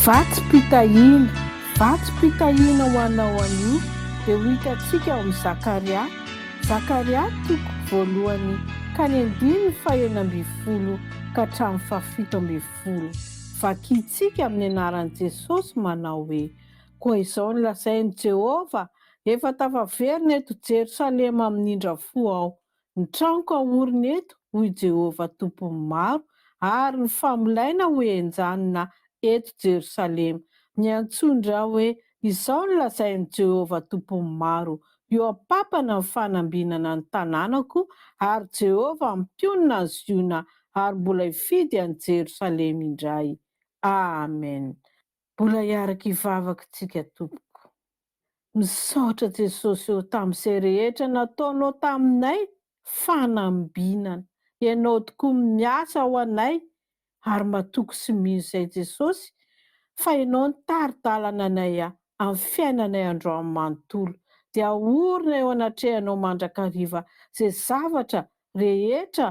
Vatsim-pitahiana, vatsim-pitahiana ho anao anio dia ho hitantsika ao amin'ny Zakaria, Zakaria toko voalohany ka ny andininy fahenina ambin'ny folo ka hatramin'ny fahafito ambin'ny folo. Vakintsika amin'ny anaran'i Jesosy manao hoe, Koa izao no lazain'i Jehovah, Efa tafaverina eto Jerosalema minindra fo aho, Ny tranoko aorina eto, hoy Jehovah Tompon'ny maro, ary ny famolaina ho enjanina eto Jerosalema. Niantsoany ra hoe, Izao no lazain'i Jehovah Tompon'ny maro, Eo am-pampana ny fanambinana ny tanànako, ary Jehovah mpionona an'i Ziona ary mbola hifidy an'i Jerosalema indray. Amen. Mbola hiaraka hivavaka isika tompoko. Misaotra Jesosy ô tamin'izay rehetra nataonao taminay fanambinana. Ianao tokoa miasa ho anay ary matoky sy mino izay Jesosy fa Ianao no tari-dalana anay amin'ny fiainanay androany manontolo dia ahorina eo anatrehanao mandrakariva izay zavatra rehetra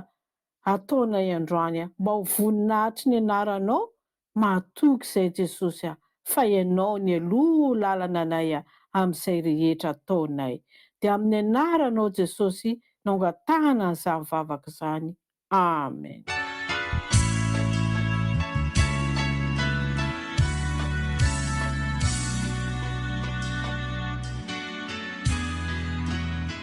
ataonay androany a! Mba ho voninahitry ny anaranao mahatoky izay Jesosy a! Fa ianao ny aloha lalana anay a! Amin'izay rehetra ataonay dia amin'ny anaranao Jesosy no angatahana an'izany vavaka izany. Amen.